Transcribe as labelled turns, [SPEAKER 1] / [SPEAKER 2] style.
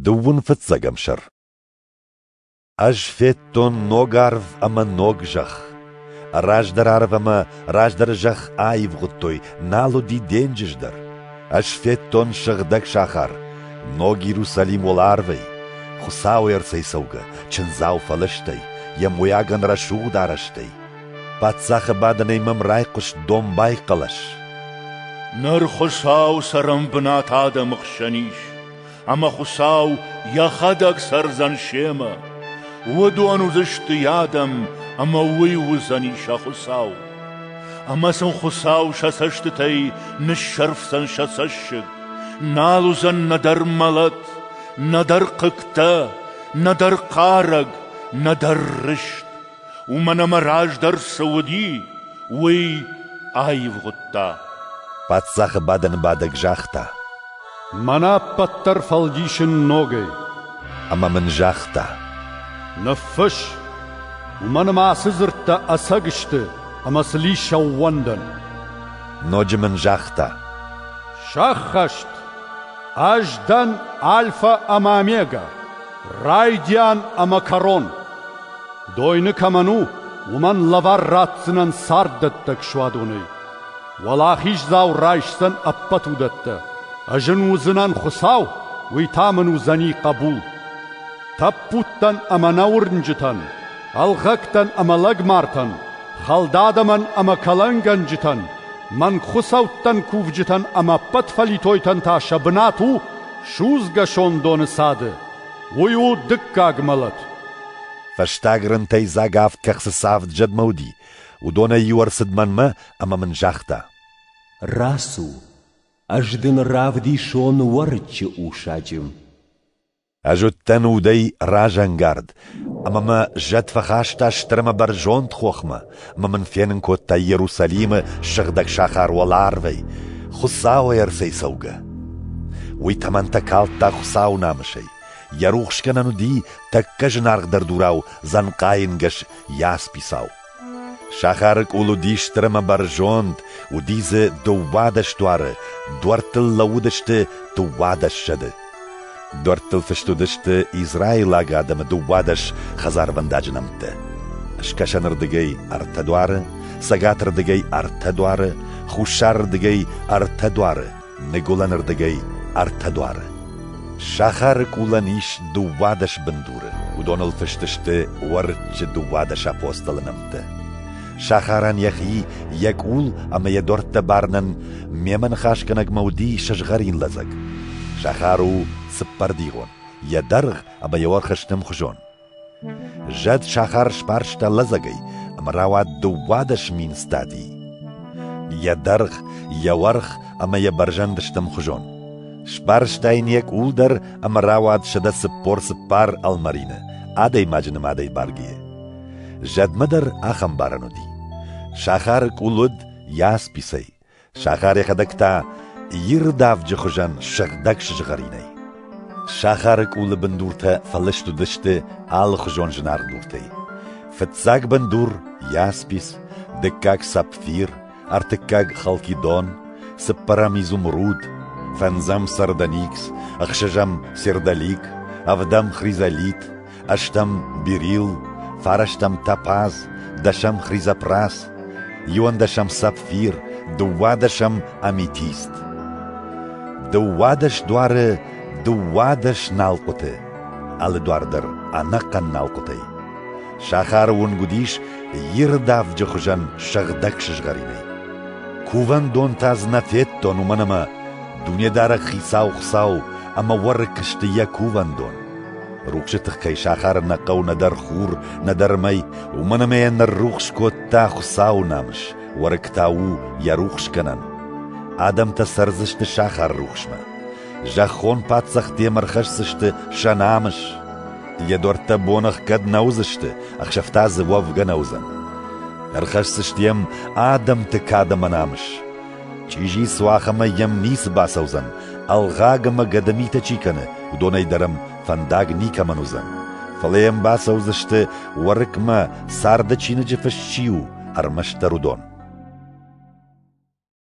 [SPEAKER 1] Дыууын фыццӕгӕм сӕр Ӕз федтон ног арв ӕмӕ ног зӕхх. Раздӕр арв ӕмӕ раздӕры зӕхх аивгъуыдтой, нал уыди денджыз дӕр. Ӕз федтон сыгъдӕг сахар, ног Иерусалим уӕларвӕй, Хуыцауы ӕрцӕй цӕугӕ, чындзау фӕлыстӕй, йӕ мойагӕн рӕсугъд арӕзтӕй. Паддзахы бадынӕй мӕм райхъуыст домбай хъӕлӕс.
[SPEAKER 2] Ныр Хуыцау цӕрӕнбынат адӕмы хсӕн ис, ӕмӕ Хуыцау йӕхӕдӕг цӕрдзӕн семӕ. Уыдон уыдзысты йӕ адӕм, ӕмӕ уый уыдзӕни сӕ Хуыцау. Ӕмӕ сын Хуыцау сӕ цӕстытӕй ныссӕрфдзӕн сӕ цӕссыг. Нал уыдзӕн нӕдӕр мӕлӕт, нӕдӕр хъыгтӕ, нӕдӕр хъарӕг, нӕдӕр рыст. уымӕн ӕмӕ раздӕр цы уыди, уый аивгъуыдта. Паддзахы
[SPEAKER 1] бадӕнбадӕг загъта: Мӕнӕ
[SPEAKER 3] ӕппӕт дӕр фӕлдисын ногӕй. Ӕмӕ мын
[SPEAKER 1] загъта: Ныффысс,
[SPEAKER 3] уымӕн ӕмӕ ацы дзырдтӕ ӕцӕг сты ӕмӕ сын ис ӕууӕндӕн.
[SPEAKER 1] Ноджы мын загъта:
[SPEAKER 3] Сӕххӕст! Ӕз дӕн Альфа ӕмӕ Омега. Райдиан ӕмӕ кӕрон. Дойны кӕмӕн у, уымӕн лӕвар ратдзынӕн царддӕттӕг суадонӕй. Уӕлахиздзау райсдзӕн ӕппӕт уыдӕттӕ. Ӕз ын уыдзынӕн Хуыцау, уый та мын уыдзӕни хъӕбул. Тӕппудтӕн ӕмӕ нӕ уырнджытӕн, ӕлгъӕгтӕн ӕмӕ лӕгмартӕн, хӕлдадӕмӕн ӕмӕ кӕлӕнгӕнджытӕн, мӕнг хуыцӕуттӕн кувджытӕн ӕмӕ ӕппӕт фӕлитойтӕн та сӕ бынат у Судзгӕ сондоны цады уый у дыккаг мӕлӕт. Фӕстаг
[SPEAKER 1] рынтӕй дзаг авд кӕхцы цавд зӕдмӕ уыди. Уыдонӕй иу ӕрцыд мӕнмӕ ӕмӕ мын загъта. Рацу,
[SPEAKER 4] ӕз дын равдисон Уӕрыччы усаджы. Ӕз
[SPEAKER 1] уыдтӕн удӕй разӕнгард, Ӕмӕ мӕ зӕд фӕхаста стыр ӕмӕ бӕрзонд хохмӕ, ӕмӕ мын фенын кодта Иерусалимы сыгъдӕг сахар уӕларвӕй, Хуыцауӕй ӕрцӕйцӕугӕ. Уый тӕмӕнтӕ калдта Хуыцауы намысӕй. Йӕ рухсгӕнӕн уыди тӕккӕ зынаргъдӕр дурау дзӕнхъайынгӕс ясписау. Сахары къул уыди стырӕмӕ бӕрзонд, уыди дзы дыууадӕс дуары, дуӕрттыл лӕууыдысты дыууадӕссӕдз. Дуӕрттыл фыст уыдысты израилаг адӕмы дыууадӕс хӕдзарвӕндаджы нӕмттӕ. Скӕсӕнырдыгӕй ӕртӕ дуары, цӕгатырдыгӕй ӕртӕ дуары, хуссарырдыгӕй ӕртӕ дуары, Ныгуылӕны рдыгӕй ӕртӕ дуары. Сахары къулӕн ис дыууадӕс бындуры. Уыдоныл фыст сты Уӕрыччы дыууадӕс апостолы нӕмттӕ. Сахарӕн йӕхи, йӕ къул ӕмӕ йӕ дуӕрттӕ барынӕн мемӕ ныхасгӕнӕгмӕ уыди сызгъӕрин лӕдзӕг. Сахар у цыппӕрдигъон, йӕ дӕргъ ӕмӕ йӕ уӕрх сты мхуызон. Зӕд сахар сбарста лӕдзӕгӕй ӕмӕ рауад дыууадӕс мин стадийы. Йӕ дӕргъ, йӕ уӕрх ӕмӕ йӕ бӕрзӕнд сты ӕмхуызон. Сбарста йын йӕ къул дӕр ӕмӕ рауад сӕдӕ цыппор-цыппар ӕлмӕрины, адӕймаджы нымадӕй бӕргӕйӕ. Зӕдмӕ дӕр ахӕм барӕн уыди. Сахары къул уыд ясписӕй, Сахар йӕхӕдӕг та ирдавджы хуызӕн сыгъдӕг сызгъӕринӕй. Сахары къулы бындуртӕ фӕлыст уыдысты алыхуызон зынаргъ дуртӕй. Фыццаг бындур — яспис, дыккаг — сапфир, ӕртыккаг — халкидон, цыппӕрӕм — изумруд, фӕндзӕм — сардоникс, ӕхсӕзӕм — сердолик, ӕвдӕм — хризолит, ӕстӕм Бирил, фарӕстӕм Топаз, дӕсӕм Хризопрас, иуӕндӕсӕм Сапфир, дыууадӕсӕм Аметист. Дыууадӕс дуары дыууадӕс налхъуыты, алы дуар дӕр ӕнӕхъӕн налхъуытӕй. Сахары уынг уыдис ирдавджы хуызӕн сыгъдӕг сызгъӕринӕй. Кувӕндон та дзы нӕ федтон, уымӕн ӕмӕ Дунедарӕг Хицау Хуыцау ӕмӕ уӕрыкк сты йӕ кувӕндон. Рухсы тых кӕй сахары нӕ хъӕу нӕдӕр хур, нӕдӕр мӕй, уымӕн ӕмӕ йӕ ныррухс кодта Хуыцауы намыс, уӕрыкк та у йӕ рухсгӕнӕн. Адӕмтӕ цӕрдзысты сахар рухсмӕ. Зӕххон паддзах демӕ ӕрхӕсдзысты сӕ намыс. Йӕ дуӕрттӕ боныхгӕд нӕ уыдзысты, ӕхсӕвтӕ дзы уӕвгӕ нӕ уыдзӕн. Ӕрхӕсдзысты йӕм адӕмты кадӕмӕ намыс. Чъизи суах ӕмӕ йӕм ницы бацӕудзӕн, ӕлгъаг ӕмӕ гӕдымитӕ чи кӕны, уыдонӕй дӕр ӕм фӕндаг никӕмӕн уыдзӕн. Фӕлӕ йӕм бацӕудзысты, Уӕрыкмӕ царды чиныджы фыст чи у, ӕрмӕстдӕр уыдон.